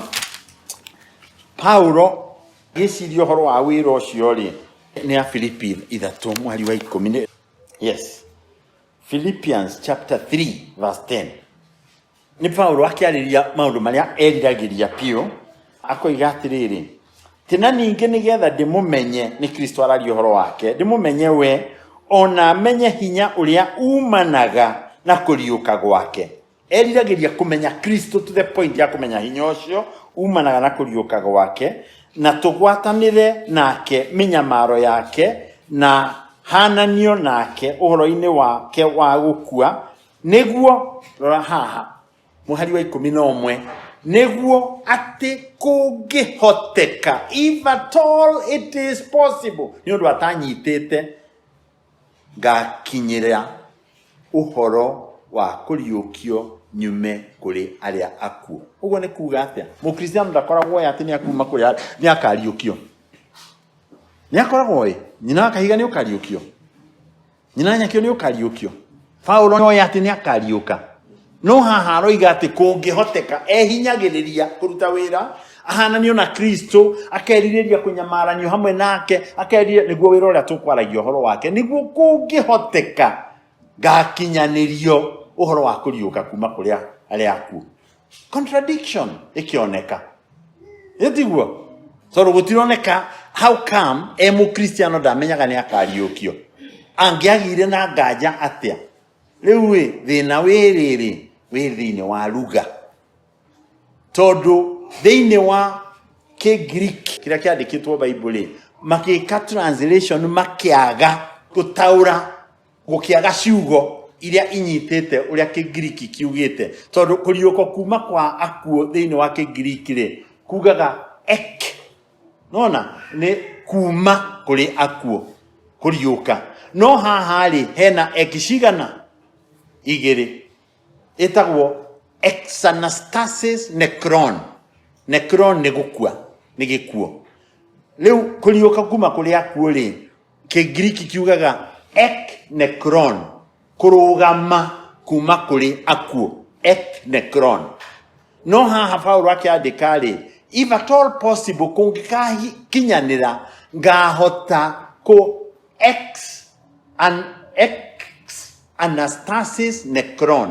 paulo gĩciria ũhoro wa wĩra ũcio rĩ nĩ afilipi ithatũ mwari wa ikũmi nĩ- yes philippians chapter 3 verse 10 nĩ paulo akĩarĩria maũndũ marĩa eriragĩria biũ akoiga atĩrĩrĩ tĩ na ningĩ nĩgetha ndĩmũmenye nĩ kristo araria ũhoro wake ndĩmũmenye we ona menye hinya ũrĩa umanaga na kũriũka gwake eriragĩria kũmenya kristo to the point ya kũmenya hinya ũcio umanaga na kũriũka gwake na tũgwatanĩre nake mĩnyamaro yake na hananio nake ũhoro-inĩ wake wa gũkua nĩguo rora haha mũhari wa ikũmi na ũmwe nĩguo atĩ kũngĩhoteka if at all it is possible nĩ ũndũ atanyitĩte Ngaakinyĩra ũhoro wa kũriũkio nyume kũrĩ arĩa akuũ. Ũguo nĩ kuuga atĩa? Mũkristiano ndakoragwo oĩ atĩ nĩ akuuma kũrĩ arĩa nĩ akariũkio. Nĩ akoragwo oĩ. Nyina wa kahiga nĩ ũkariũkio. Nyina wa nyakio nĩ ũkariũkio. Paulo nĩoĩ atĩ nĩ akariũka no haha aroiga atĩ kũngĩhoteka ehinyagĩrĩria kũruta wĩra ahananio na kristo akerirĩria kũnyamaranio hamwe nake akerirĩria nĩguo wĩra ũrĩa tũkwaragia ũhoro wake nĩguo kũngĩhoteka ngakinyanĩrio ũhoro wa kũriũka kuma kũrĩa arĩa akuũ contradiction ĩkĩoneka ĩtiguo tondũ gũtironeka how come e mũkristiano ndamenyaga nĩ akariũkio angĩagire na nganja atĩa rĩu ĩ thĩna wĩ rĩrĩ wĩ thĩinĩ wa ruga tondũ thĩinĩ wa kĩgiriki kĩrĩa kĩandĩkĩtwo baibuli makĩka translation makĩaga gũtaũra gũkĩaga ciugo iria inyitĩte ũrĩa kĩngiriki kiugĩte tondũ kũriũko kuma kwa akuo thĩinĩ wa kĩngiriki rĩ kugaga ek nona nĩ kuma kũrĩ akuo kũriũka no haha rĩ hena ek cigana igĩrĩ ĩtagwo exanastasis necron necron nĩ gũkua nĩ gĩkuo rĩu kũriũka kuma kũrĩ akuo rĩ kĩngiriki kiugaga ek necron kũrũgama kuma kũrĩ akuũ ek necron no haha paulo akĩandĩka rĩ if at all possible kũngĩkakinyanĩra ngahota kũ ex an ex anastasis necron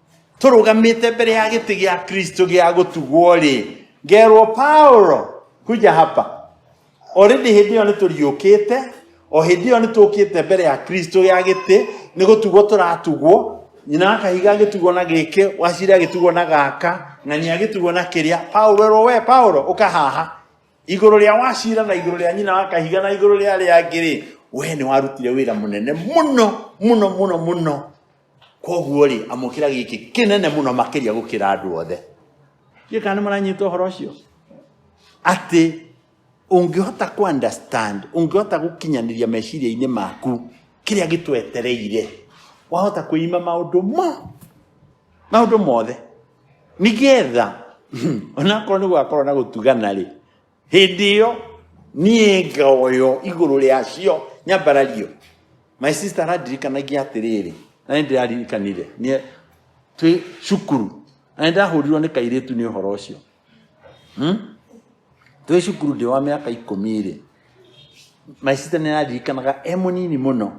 tũrũgamĩte mbere ya gĩtĩ gĩa kristo gĩa gũtugwo rĩ ngerwo paulo kuja hapa already hĩndĩ ĩyo nĩ tũriũkĩte o hĩndĩ ĩyo nĩ tũkĩte mbere ya kristo gĩa gĩtĩ nĩ gũtugwo tũratugwo nyina wa kahiga agĩtugwo na gĩkĩ waciri agĩtugwo na gaka na nĩ agĩtugwo na kĩrĩa paulo erwo we paulo ũka haha igũrũ rĩa wacira na igũrũ rĩa nyina wa kahiga na igũrũ rĩa arĩa angĩ rĩ we nĩ warutire wĩra mũnene mũno mũno mũno mũno koguo rĩ amũkĩra gĩkĩ kĩnene mũno makĩria gũkĩra andũ othe ndiĩ kana nĩ maranyita ũhoro ũcio atĩ ũngĩhota kũ understand ũngĩhota gũkinyanĩria meciria-inĩ maku kĩrĩa gĩtwetereire wahota kwĩima maũndũ mo maũndũ mothe nĩgetha onakorwo nĩ gwakorwo na gũtugana rĩ hĩndĩ ĩyo niĩ ngaoyo igũrũ rĩacio nyambarario my sister arandirikanagia atĩrĩrĩ na nĩ ndĩraririkanire niĩ twĩ cukuru na nĩ ndahũrirwo nĩ kairĩtu nĩ ũhoro ũcio Hmm? twĩ cukuru ndĩ wa mĩaka ikũmi rĩ my sister nĩ araririkanaga e mũnini mũno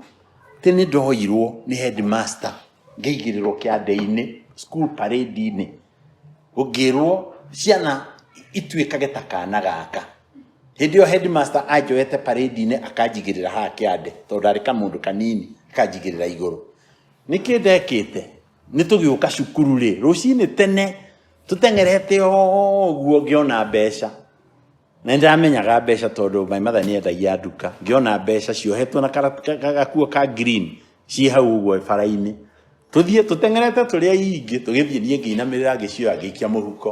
tĩ nĩ ndoirwo nĩ headmaster ngĩigĩrĩrwo kĩande-inĩ school parade-inĩ ngĩrwo ciana ituĩkage ta kana gaka hĩndĩ ĩyo headmaster anjoete parade-inĩ akanjigĩrĩra haha kĩande tondũ ndarĩ kamũndũ kanini akanjigĩrĩra igũrũ nĩkĩ ndekĩte nĩ tũgĩũka cukuru rĩ rũcinĩ tene tũteng'erete ũguo ngĩona mbeca Na nĩndĩramenyaga mbeca tondũ my mother nĩendagia nduka. Ngĩona mbeca ciohetwo na kara- ka- ka- gakuo ka green ciĩ hau ũguo bara-inĩ. Tũthiĩ tũteng'erete tũrĩ aingĩ tũgĩthiĩ niĩ ngĩinamĩrĩra ngĩcioya ngĩikia mũhuko.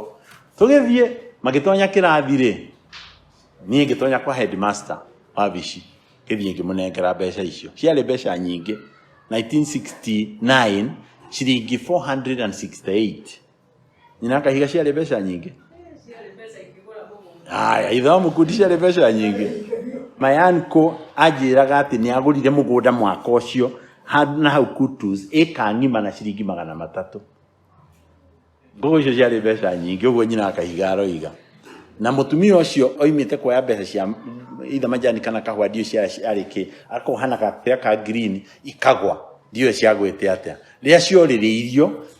Tũgĩthiĩ magĩtonya kĩrathi rĩ, niĩ ngĩtonya kwa headmaster wa bici ngĩthiĩ ngĩmũnengera mbeca icio. Ciarĩ mbeca nyingĩ 1969 ciringi 468. Nyina akahiga ciarĩ mbeca nyingĩ haya ithe wa mũkundi ciarĩ mbeca nyingĩ mayanko anjĩraga atĩ nĩ agũrire mũgũnda mwaka ũcio handũ na hau kutus ĩka ng'ima na ciringi magana matatũ ngũgũ icio ciarĩ mbeca nyingĩ ũguo nyina akahiga aroiga na mũtumia ũcio oimĩte kuoya mbeca cia ithe majani kana kahũa ndiũ cia arĩ kĩ akohana gakũrĩa ka green ikagwa ndiũ ciagwĩte atĩa rĩrĩa ciorĩrĩirio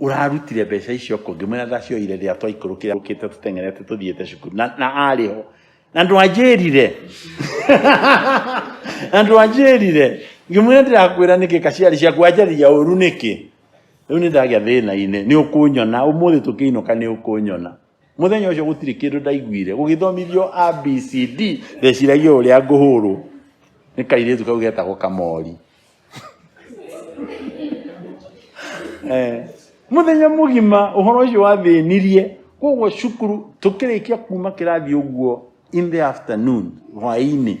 ũrarutire mbeca icio kũ ngĩmwĩra ndacioire rĩrĩa twaikũrũkĩra ũkĩte tũteng'erete tũthiĩte cukuru na, na arĩ ho na ndwanjĩrire na ndwanjĩrire ngĩmwĩra ndĩrakwĩra nĩkĩ kaciari ciaku wanjarĩria ũru nĩkĩ rĩu nĩ ndagĩa thĩna-inĩ nĩ ũkũnyona ũmũthĩ tũkĩinũka nĩ ũkũnyona muthenya ucio gutiri kindu ndaiguire gugithomithio abcd ndeciragia uria nguhurwo ni kairitu kau getagwo kamori eh muthenya mugima uhoro ucio wathinirie koguo cukuru tukirikia kuma kirathi uguo in the afternoon hwaini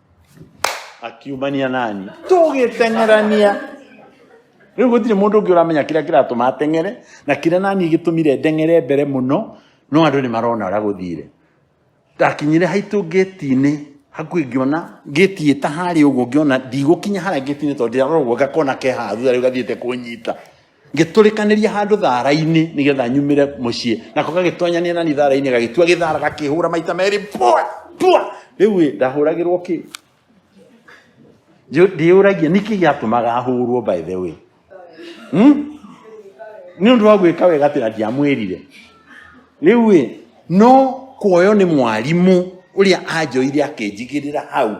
akiumania nani tũgĩteng'erania rĩu gũtirĩ mũndũ ũngĩ ũramenya kĩrĩa kĩratũma ateng'ere na kĩrĩa nani gĩtũmire ndeng'ere mbere mũno no andũ nĩ marona ũrĩa gũthire ndakinyire haitũ ngĩti-inĩ hakuhĩ ngĩona ngĩti ĩta harĩa ũguo ngĩona ndigũkinya harĩa ngĩti-inĩ tondũ ndĩrarora ũguo ngakona ke haha thutha rĩu gathiĩte kũnyita ngĩtũrĩkanĩria handũ thara-inĩ nĩgetha nyumĩre mũciĩ nako gagĩtonyania nani thara-inĩ gagĩtua gĩthara gakĩhũra maita merĩ pua pua rĩu ĩ ndahũragĩrwo kĩ Njũ- ndĩyũragia nĩkĩ gĩatũmaga ahũrwo by the way hmm? nĩ ũndũ wa gwĩka wega atĩ na ndiamwĩrire rĩu ĩ no kuoywo nĩ mwarimũ ũrĩa anjoire akĩnjigĩrĩra hau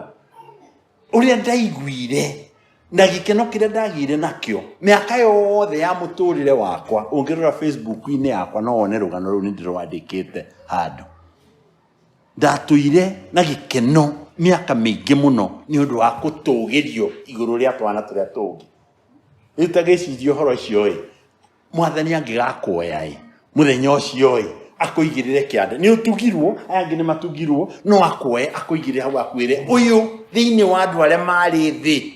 ũrĩa ndaiguire na gĩkeno kĩrĩa ndagĩire nakĩo mĩaka yothe ya mũtũrĩre wakwa ũngĩrora facebook-inĩ yakwa no wone rũgano rũu nĩ ndĩrwandĩkĩte handũ ndatũire na gĩkeno mĩaka mĩingĩ mũno nĩ ũndũ wa gũtũgĩrio igũrũ rĩa twana tũrĩa tũngĩ rĩu ta gĩciria ũhoro ũcio ĩ mwathani angĩgakuoya-ĩ mũthenya ũcio-ĩ akũigĩrĩre kĩande nĩ ũtugirwo aya angĩ nĩ matugirwo no akuoye akũigĩrĩre hau akwĩre ũyũ thĩinĩ wa andũ arĩa marĩ thĩ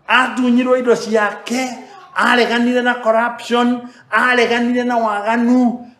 atunyirwo indo ciake areganire na corruption areganire na waganu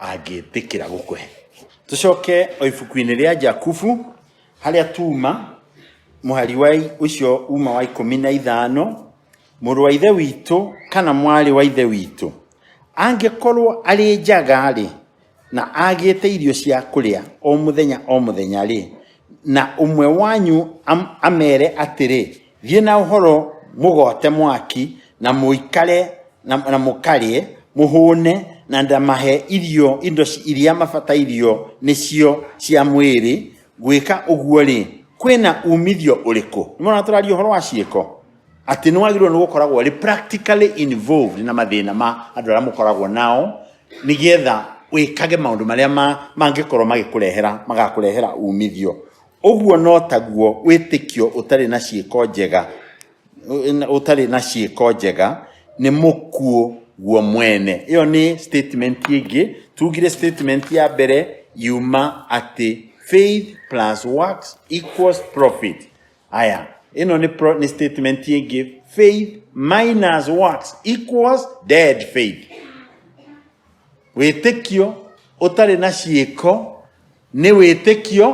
angĩtĩkĩra gũkũhe tũcoke o ibuku-inĩ rĩa jakubu harĩa tuma mũhari wa i- ũcio uma wa ikũmi na ithano mũrũ wa ithe witũ kana mwarĩ wa ithe witũ angĩkorwo arĩ njaga-rĩ na agĩte irio cia kũrĩa o mũthenya o mũthenya-rĩ na ũmwe wanyu am- amere atĩrĩ Thiĩ na ũhoro mũgoote mwaki, na mũikare na, na mũkarĩe, mũhũne, na ndamahe irio indo ci- iria mabatairio nĩcio cia mwĩrĩ. Gwĩka ũguo-rĩ, kwĩna umithio ũrĩkũ? Nĩmona tũraria ũhoro wa ciĩko atĩ nĩ wagĩrĩirwo nĩ gũkoragwo ũrĩ practically involved na mathĩna ma andũ arĩa mũkoragwo nao nĩgetha wĩkage maũndũ marĩa ma- mangĩkorwo magĩkũrehera magakũrehera umithio Ũguo no taguo wĩtĩkio ũtarĩ na ciĩko njega ũtarĩ na ciĩko njega nĩ mũkuũ guo mwene ĩyo nĩ statement ĩngĩ tugire statement ya mbere yuma atĩ faith plus works equals profit aya ĩno nĩ, pro, nĩ statement ĩngĩ faith minus works equals dead faith wĩtĩkio ũtarĩ na ciĩko nĩ wĩtĩkio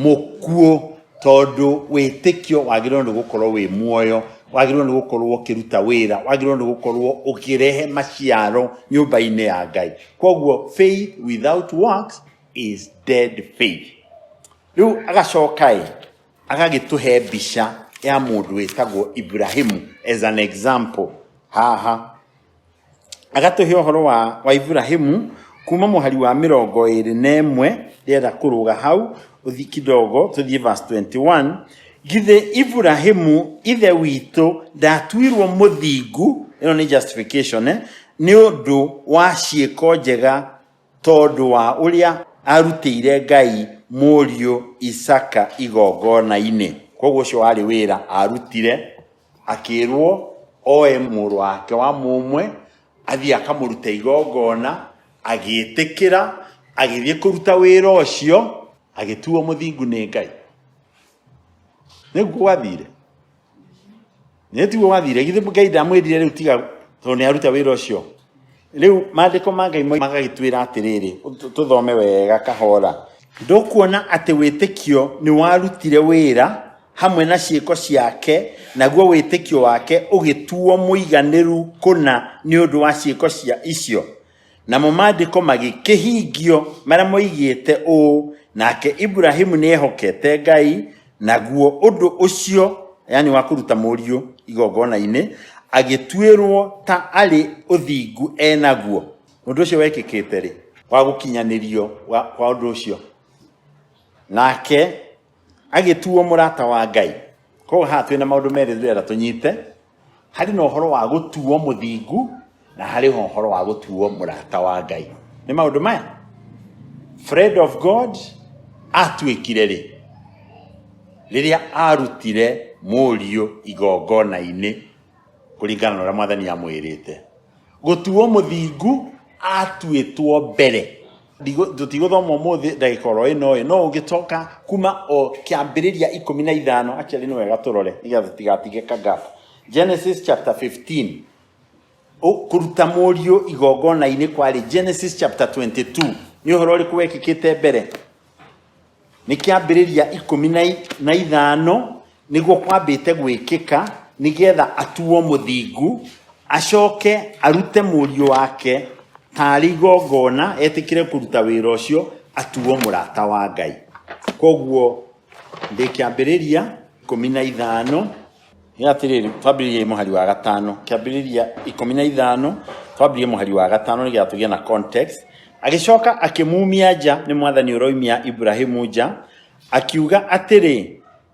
mũkuũ tondũ wĩtĩkio wagĩrĩirwo nĩ gũkorwo wĩ muoyo wagĩrĩirwo nĩ gũkorwo ũkĩruta wĩra wagĩrĩirwo nĩ gũkorwo ũkĩrehe maciaro nyũmba-inĩ ya ngai koguo faith without works is dead faith rĩu agacoka ĩ agagĩtũhe mbica ya mũndũ wĩtagwo ibrahimu as an example haha agatũhe ũhoro wa, wa Iburahĩmu kuma mũhari wa mĩrongo ĩrĩ na ĩmwe ndĩrenda kũrũga hau ũthi kidogo tũthiĩ verse 21 githĩ Iburahĩmu ithe witũ ndatuirwo mũthingu ĩno nĩ justification eh? nĩ ũndũ wa ciĩko njega tondũ wa ũrĩa arutĩire Ngai mũriũ Isaka igongona-inĩ koguo ũcio warĩ wĩra arutire akĩrwo oe mũrũ wake wa mũmwe athiĩ akamũruta igongona agĩtĩkĩra agĩthiĩ kũruta wĩra ũcio agĩtuo mũthingu nĩ ngai nĩguo gwathire nĩtiguo gwathire githĩ ngai ndamwĩrire rĩu tiga tondũ nĩ aruta wĩra ũcio Rĩu maandĩko ma Ngai moima magagĩtwĩra atĩrĩrĩ, tũ- tũthome wega kahora. Ndũkuona atĩ wĩtĩkio nĩ warutire wĩra hamwe na ciĩko ciake, naguo wĩtĩkio wake ũgĩtuo mũiganĩru kũna nĩ ũndũ wa ciĩko cia icio. Namo maandĩko magĩkĩhingio marĩa moigĩte ũũ, nake Ibrahimu nĩehokete Ngai, Naguo ũndũ ũcio, yani wa kũruta mũriũ igongona-inĩ, agĩtuĩrwo ta arĩ ũthingu e naguo. Ũndũ ũcio wekĩkĩte rĩ? Wa gũkinyanĩrio wa, kwa ũndũ ũcio. Nake agĩtuo mũrata wa Ngai. Koguo haha twĩna maũndũ merĩ ndĩrenda tũnyite. harĩ na ũhoro wa gũtuo mũthingu na harĩ ho ũhoro wa gũtuo mũrata wa ngai nĩ maũndũ maya friend of god atuĩkire rĩ rĩrĩa arutire mũriũ igongona-inĩ kũringana na ũrĩa mwathani amwĩrĩte gũtuo mũthingu atuĩtwo mbere tũtigũthoma ũmũthĩ ndagĩka oro ĩno ĩ no ũngĩcoka kuma o kĩambĩrĩria ikũmi na ithano actually nĩ wega tũrore nĩgetha tũtigatige ka gap genesis chapter 15 Ũ- kũruta mũriũ igongona-inĩ kwarĩ genesis chapter 22 nĩ ũhoro ũrĩkũ wekĩkĩte mbere Nĩ kĩambĩrĩria ikũmi na, na ithano nĩguo kwambĩte gwĩkĩka nĩgetha atuo mũthingu acoke arute mũriũ wake tarĩ igongona etĩkĩre kũruta wĩra ũcio atuo mũrata wa Ngai. Koguo ndĩ kĩambĩrĩria ikũmi na ithano Nĩ atĩrĩrĩ, twambĩrĩriei mũhari wa gatano, kĩambĩrĩria ikũmi na ithano, twambĩrĩrie mũhari wa gatano nĩgetha tũgĩe na context. Agĩcoka akĩmuumia nja, nĩ mwathani ũroimia Ibrahimu nja, akiuga atĩrĩ,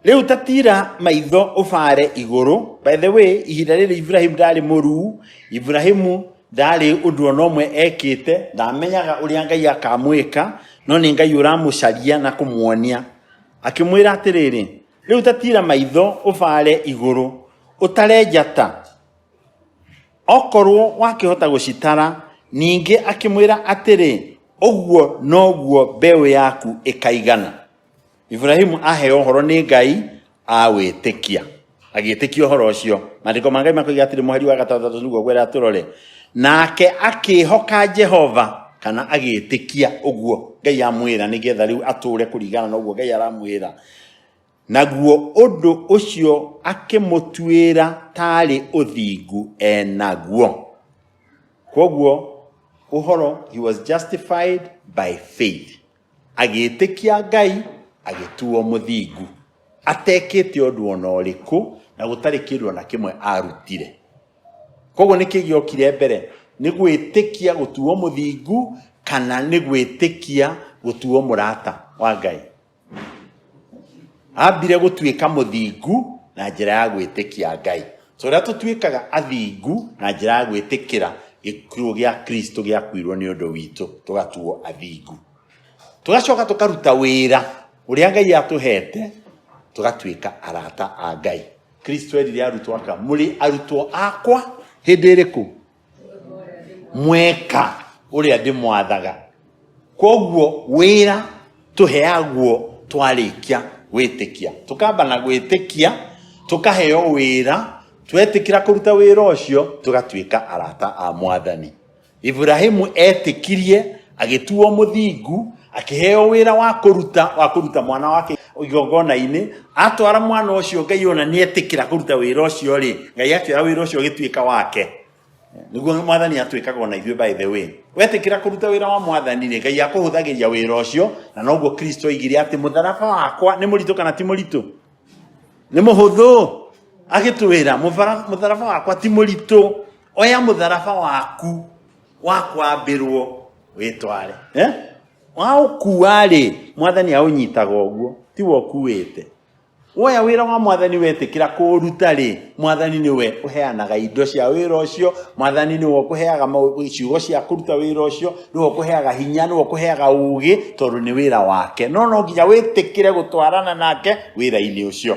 rĩu ta tira maitho ũbaare igũrũ. By the way, ihinda rĩrĩ Ibrahimu ndarĩ mũruu, Ibrahimu ndarĩ ũndũ ona ũmwe ekĩte, ndamenyaga ũrĩa Ngai akamwĩka, no nĩ Ngai ũramũcaria na kũmuonia. Akĩmwĩra atĩrĩrĩ, Rĩu ta tira maitho ũbaare igũrũ ũtare njata okorwo wakĩhota gũcitara ningĩ akĩmwĩra atĩrĩ ũguo noguo mbeũ yaku ĩkaigana iburahimu aheo ũhoro nĩ ngai awĩtĩkia agĩtĩkia ũhoro ũcio maandĩko ma ngai makoiga atĩrĩ mũhari wa gatandatũ nĩguo gwera tũrore nake akĩhoka jehova kana agĩtĩkia ũguo ngai amwĩra nĩgetha rĩu atũre kũringana na ũguo ngai aramwĩra Naguo ũndũ ũcio akĩmũtuĩra taarĩ ũthingu enaguo. Kwoguo ũhoro, he was justified by faith. Agĩĩtĩkia Ngai, agĩtuo mũthingu. Atekĩte ũndũ ona ũrĩkũ, na gũtarĩ kĩndũ ona kĩmwe arutire. Kwoguo nĩkĩ gĩokire mbere? Nĩ gwĩtĩkia gũtuo mũthingu, kana nĩ gwĩtĩkia gũtuo mũrata wa Ngai? ambire gũtuĩka mũthingu na njĩra ya gwĩtĩkia Ngai. So rĩrĩa tũtuĩkaga athingu na njĩra ya gwĩtĩkĩra gĩkuũ gĩa Kristo gĩakuirwo nĩ ũndũ witũ, tũgatuo athingu. Tũgacoka tũkaruta wĩra ũrĩa Ngai atũhete, tũgatuĩka arata a Ngai. Kristo erire arutwo aka, mũrĩ arutwo akwa hĩndĩ ĩrĩkũ? mweka uria ndimwathaga koguo wira tuheagwo twarikia gwitikia tukamba na gwitikia tukaheo wira twetikira kuruta wira ucio tugatuika arata a mwathani ibrahimu etikirie agĩtuo mũthingu akĩheo wĩra wa kũruta wa kũruta mwana wake igongona-inĩ atwara mwana ũcio ngai ona nĩ etĩkĩra kũruta wĩra ũcio rĩ ngai akĩoya wĩra ũcio ũgĩtuĩka wake nĩguo mwathani atwĩkaga ona ithuĩ by the way wetĩkĩra kũruta wĩra wa mwathani rĩ ngai akũhũthagĩria wĩra ũcio na noguo kristo oigire atĩ mũtharaba wakwa nĩ mũritũ kana ti mũritũ nĩ mũhũthũ agĩtwĩra mũtharaba wakwa ti mũritũ oya mũtharaba waku wakwambĩrwo wĩtware eh? waũkua-rĩ mwathani aũnyitaga ũguo tiwe ũkuĩte woya wĩra wa mwathani wetĩkĩra kũũruta-rĩ mwathani nĩwe ũheanaga indo cia wĩra ũcio mwathani nĩwe ũkũheaga mau- ciugo cia kũruta wĩra ũcio nĩwe ũkũheaga hinya nĩwe ũkũheaga ũgĩ tondũ nĩ wĩra wake no no nginya wĩtĩkĩre gũtwarana nake wĩra-inĩ ũcio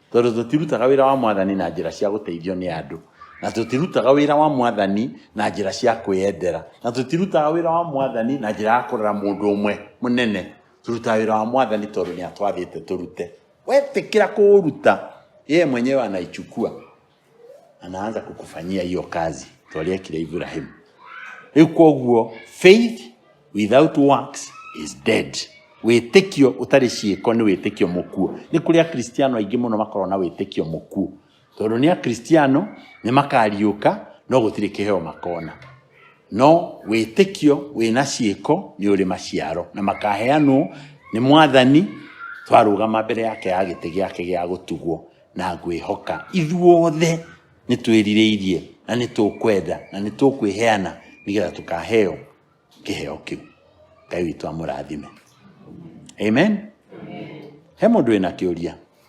Tondũ tũtirutaga wĩra wa mwathani na njĩra cia gũteithio nĩ andũ, na tũtirutaga wĩra wa mwathani na njĩra cia kwĩyendera, na tũtirutaga wĩra wa mwathani na njĩra ya kũrora mũndũ ũmwe mũnene. Tũrutaga wĩra wa mwathani tondũ nĩ atwathĩte tũrute. Wetĩkĩra kũũruta, yeye mwenyewe anaichukua. anaanza kukufanyia hiyo kazi twaria kile ibrahim riu koguo faith without works is dead wĩtĩkio ũtarĩ ciĩko nĩ wĩtĩkio mũkuo nĩ kũrĩ akristiano aingĩ mũno makorwo na wĩtĩkio mũkuo tondũ nĩ akristiano nĩ makariũka no gũtirĩ kĩheo makona no wĩtĩkio wĩna ciĩko nĩ ũrĩ maciaro na makaheanwo nĩ mwathani twarũgama mbere yake ya gĩtĩ gĩake gĩa gũtugwo na ngwĩhoka ithuothe nĩ twĩrirĩirie na nĩ tũkwenda na nĩ tũkwĩheana nĩgetha tũkaheo kĩheo kĩu ngai witũ amũrathime amen he mũndũ wĩna kĩũria